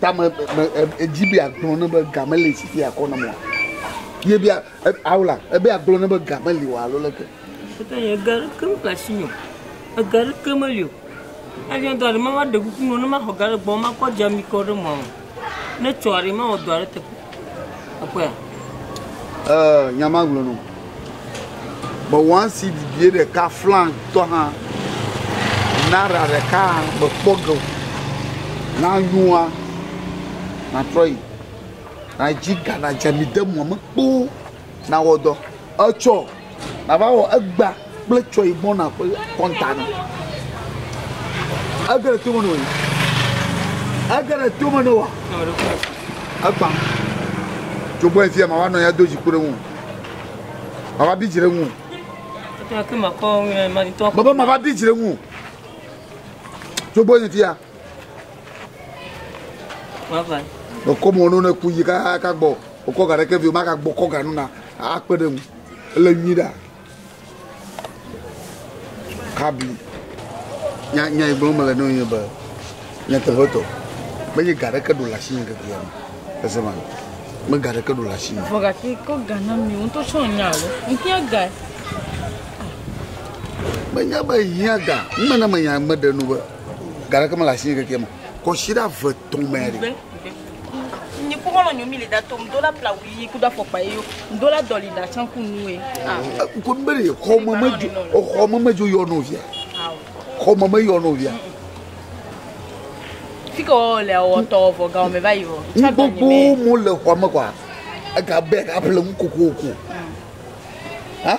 tame me edzi be agblɔ ne be ga mele si fi akɔ nam o ye bia awla ebe agblɔ ne be ga meli o alo leke ete ye ga ke me ka si nyo ega ɖe ke meli o anya ga ɖe ma va ɖe kuku no ne ma xɔ ga ɖe gbɔ ma kɔ dza mi kɔ ɖe mɔ ne tsɔ aɖe ma wɔ dɔ aɖe te Ekpɔe. Ee, nya ma gblɔ nɔ. Be one seed bie ɖeka flan tɔ hã. Naira ɖeka be kpɔ ge o. Na yua na trɔ yi. Na ji ga na dze mi de mɔ me kpo na wɔ dɔ. Etsɔ Nava wɔ egbea kple tsɔe gbɔna ƒe kɔnta na. Ege ɖe tome ne wòyi. Ege ɖe tome ne wòa. Egbã. Dzogbɔ efia ma va nɔ ya do dziku ɖe ŋu. Ma va bi dzi ɖe ŋu. Bebe ma va bi dzi ɖe ŋu. Dzogbɔ efia. Mekɔ mo no ne ku yi kaka gbɔ. Okɔ ga ɖe ke vi o ma ka gbɔ kɔ ga nuna akpe ɖe ŋu. Ele nyui ɖa. Kabi. Nya nya yi gblɔm mele nɔ ye be nyateƒetɔ menye ga ɖeke ɖo le asi nye keke ya me. Ese ma. Me ga ɖeke ɖo le asi nye. Vɔ gake ko ga na mi ŋutɔ tsɔ nya alo. Ŋkia ga. Menya be hia ga. Mena menya meɖe nu be ga ɖeke mele asi nye keke ya me. Kɔsi ɖe ave tɔmɛ ɖe. Nyi ku mɔlɔ nyomi le da tom dola plawu yi ku da fɔkpa yi yo dola dɔli da can ku nue. Ko be le xɔ me me jo xɔ me me jo yɔ no via. Xɔ me me yɔ no via. Fike o le o tɔ vɔ ga o me va yi o. Gbogbo mo le xɔ me kwa. Ega be ga ple mu koko ko. Ha?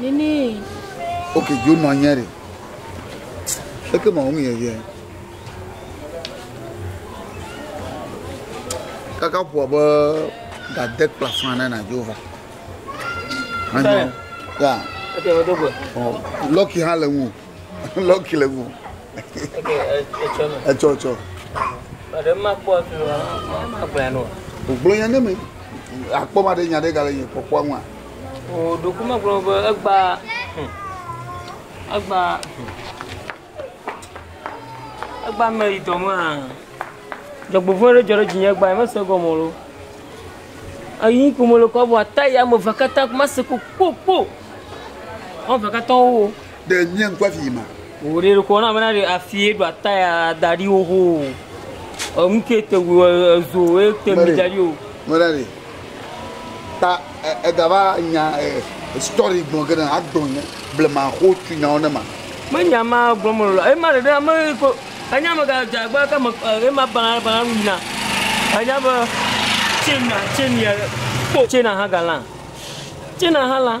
Nini. Ok, jo nɔ nyɛ ɖe. Eke ma wonu yɛ yɛ. Kaka ƒoa be gade kpla fã na na jo va. Anyo. Ya. Eke ma do gbe. Oh, lucky ha le ŋu. Lucky le ŋu. Ok, etsɔ no. Etsɔ etsɔ. Ade ma kpɔ tu ma gblẽ no. Gblẽ ne me. Akpɔ ma de nya de gale nye kpɔkpɔ ŋua. Oo, ɖoku megblɔ be egba, hm, egba, hm, egba me yi dɔ me hã. Dzɔgbevɔ̃e ɖe dzɔ ɖe dzinye egba, mese gɔme o. Eyi ko mele kpɔm vɔ ata ya ame eve katã mese kpokpokpo. Woame eve katã wowo. Ɖe mía ŋku afi yi ma? Wò ɖe ɖokɔ na bena ɖe afi ye ɖo ata ya da ɖi wo ho. Enu ke te wo ezo ye te mi da ɖi o. Mera ɖe. Ta eda va nya story gbɔn ke na agblɔ nya blema xo tu nya wo ne ma. Me nya ma gblɔ me lɔ. Ema ɖe ɖe me ko enya me ga dza gba ka me ema bana bana nu yina. Anya be chena chena ko chena ha gala. Chena ha la.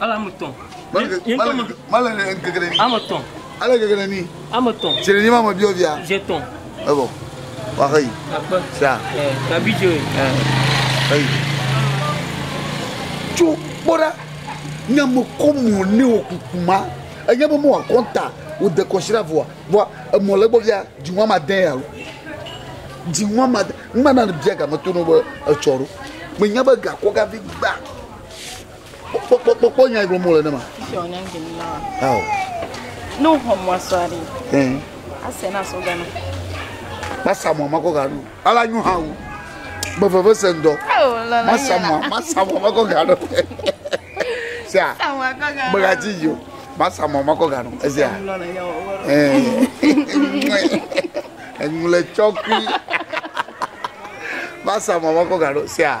Ale ame etɔ̃. Male le ŋkeke ɖe ni. Ame etɔ̃. Ale ŋkeke ɖe ni. Ame etɔ̃. Tsi ɖe ni ma me biɔ bia. Tsi etɔ̃. Ebɔ. Waxe yi. Akpe. Sia. Ɛɛ gabi dzo. Ɛɛ. Eyi. Tso kpɔ ɖa. Nya me kɔ mɔ ne wɔ kuku ma. Enya be mo wa kɔnta. Wo de kɔsi ɖa vɔa. Vɔa emɔ le gbɔ bia. Dzi wa ma dɛn alo. Dzi wa ma. Ŋma na bia game to no be etsɔ ɖo. Me nya be gakɔ gavi gba. kpɔkpɔkpɔkpɔ nyae gblɔm wole ne ma. Fisi wònye ŋgbe mi na wa. Ao. Ne woxɔ mɔa sɔa ɖi. Ɛɛ. Ase na sɔ gana. Masa mɔa makɔ ganu. Ala nyu hã wo. Be veve se ŋdɔ. Masa mɔa masa mɔa makɔ ganu. Sia. Bega ti yo. Masa mɔa makɔ ganu. Esia. Ɛɛ. Eŋu le tsɔkui. Masa mɔa makɔ ganu. Sia.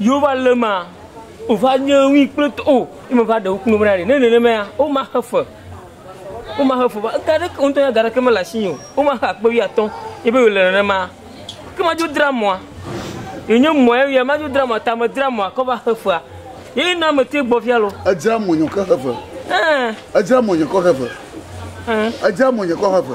Yehowa le ema, wòva nye ŋui kple to. O, ye meva ɖe ŋku nu na ɖi. Ne nenemea, womaxe fe. Womaxe fe va. Ega aɖeke, wò ŋutɔ ya ega aɖeke mele asinye o. Womaxe akpe wuiatɔ̃ ye be yewòle nenema. Ke madzo dra mɔa. Yenye mɔa ye ya. Madzo dra mɔa, ta medzra mɔa kɔ va xe fea. Ye na metea gbɔ fia lo. Edzra mɔnye kɔ xe fe. Ẽ. Edzra mɔnye kɔ xe fe. Ẽ. Edzra mɔnye kɔ xe fe.